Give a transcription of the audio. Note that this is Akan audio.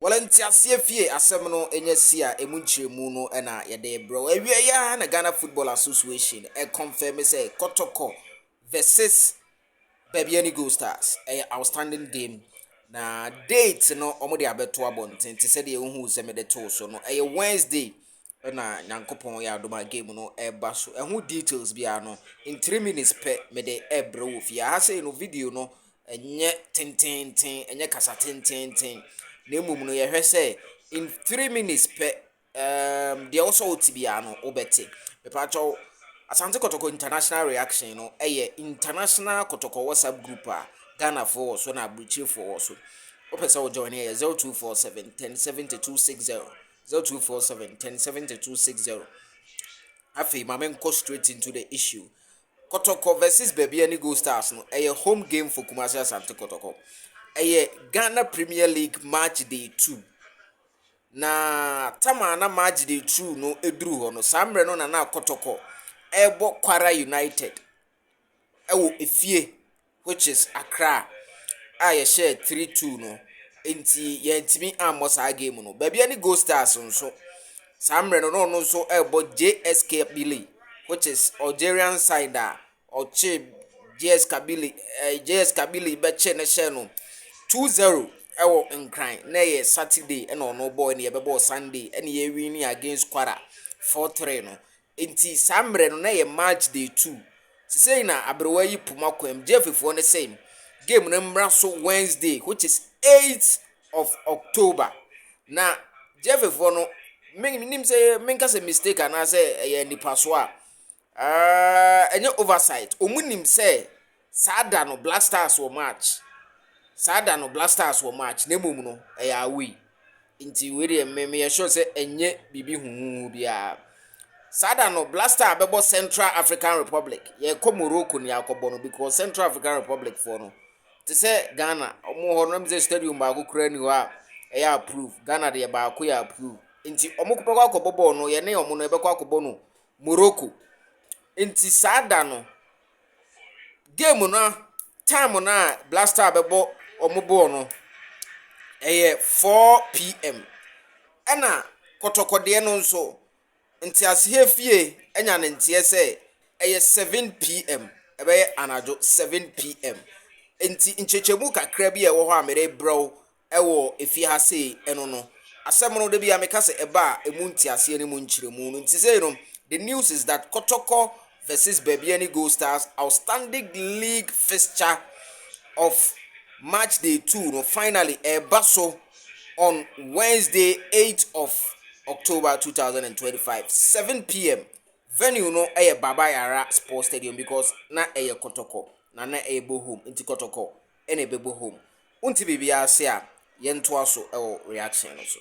Wɔle nteaseɛ fie asɛm no nya si a emu nkyerɛmu no na yɛde rebrɛ wo. Awia yi ara na Ghana Football Association kɔnfɛme sɛ Kɔtɔkɔ versus Babiani Gold Stars ɛyɛ outstanding game na date no wɔde abɛto abɔnten te sɛ deɛ wohuu sɛ mede too so no ɛyɛ Wednesday ɛna nyankopɔn yɛ adom a game no ɛba so ɛho details biara no in 3 minutes pɛ mede ɛbrɛ wɔ fie aha sei no video no ɛnyɛ tententen ɛnyɛ kasa tententen na mmom no yɛhwɛ sɛ in 3 minutes pɛ um, deɛ wosɛ wote biara no wobɛte mepaakyɛw asante kɔtɔkɔ international reaction no ɛyɛ international kɔtɔkɔ whatsapp group a ghanafoɔ wɔ so na aburukyirifoɔ wɔ so wopɛ sɛ wojoin ɛyɛ 0247 107260 Zero two four seven ten seventy two six zero. Afei ma me nkɔ straight into the issue. Kɔtɔkɔ versus baabi ɛne Gold Stars no ɛyɛ home game for Kumasi Asante Kɔtɔkɔ. Ɛyɛ Ghana Premier League match day two. Na tama na match day two no eduru hɔ no saa mmerɛ no na na Kɔtɔkɔ ɛrebɔ Kwara United ɛwɔ efie which is Accra a yɛhyɛɛ three two no nti yɛntumi ammɔ saa game no. Baabi ne Gold Stars nso saa mmerɛ no na ɔno nso ɛrebɔ JS Kabylie which is Algerian side a ɔkye JS Kabylie ɛɛ eh, JS Kabylie bɛkye ne hyɛ no two zero ɛwɔ Nkran na ɛyɛ Saturday ɛna ɔno bɔɔ ɛna yɛbɛbɔɔ Sunday ɛna yɛwi ne against Kwara four three no. Enti saa mmerɛ no na ɛyɛ March day two. Sesei na aberewa yi poma kwan mu. Gyefefoɔ no se game no mmra so Wednesday which is eight of October. Na Gyefefoɔ no mennim sɛ menka sɛ mistake anaasɛ ɛyɛ anipasoɔ a, ɛnyɛ oversight. Wɔn nim sɛ Saa da no, Black Stars wɔ match. Saa da no, Black Stars wɔ match, na mmom no, ɛyɛ away. Nti wei deɛ me meyɛ sure sɛ ɛnyɛ biribi huhuhu biara. Saa da no, Black Star bɛbɔ Central African Republic. Yɛkɔ Morocco ne yɛakɔbɔ no because Central African Republic foɔ no, te sɛ Ghana, wɔn hɔ no, na sɛ stadium baako koraa ni hɔ a ɛyɛ approve. Ghana deɛ baako yɛ approve. Nti wɔn bɛkɔ akɔbɔ bɔɔl no, yɛne wɔn no yɛbɛkɔ akɔbɔ no Morocco. Nti saa da no, Game no time no a Black Star bɛbɔ wɔn bɔɔl no, ɛyɛ 4pm. Ɛna kɔtɔkɔdeɛ no nso, nteaseɛ fie anya ne nteɛ sɛ ɛyɛ 7pm, ɛbɛyɛ anadwo 7pm. Nti nkyekyɛmu kakra bi a ɛwɔ hɔ a merebrɛ wo wɔ fie ha sei ɛno no asɛm no dabi a meka sɛ ɛba a ɛmu nteaseɛ no mu nkyerɛmu no nti sei no the news is that kɔtɔkɔ versus baabiani gold stars outstanding league fixture of match day 2 no finally ɛba so on wednesday 8 of october 2025 7 pm venue no ɛyɛ baba yara sports stadium because na ɛyɛ kɔtɔkɔ na na ɛyɛ bohom nti kɔtɔkɔ na ɛbɛbɔ hɔ mu. Wonte biribiara ase a, yɛntoa so wɔ reaction no so.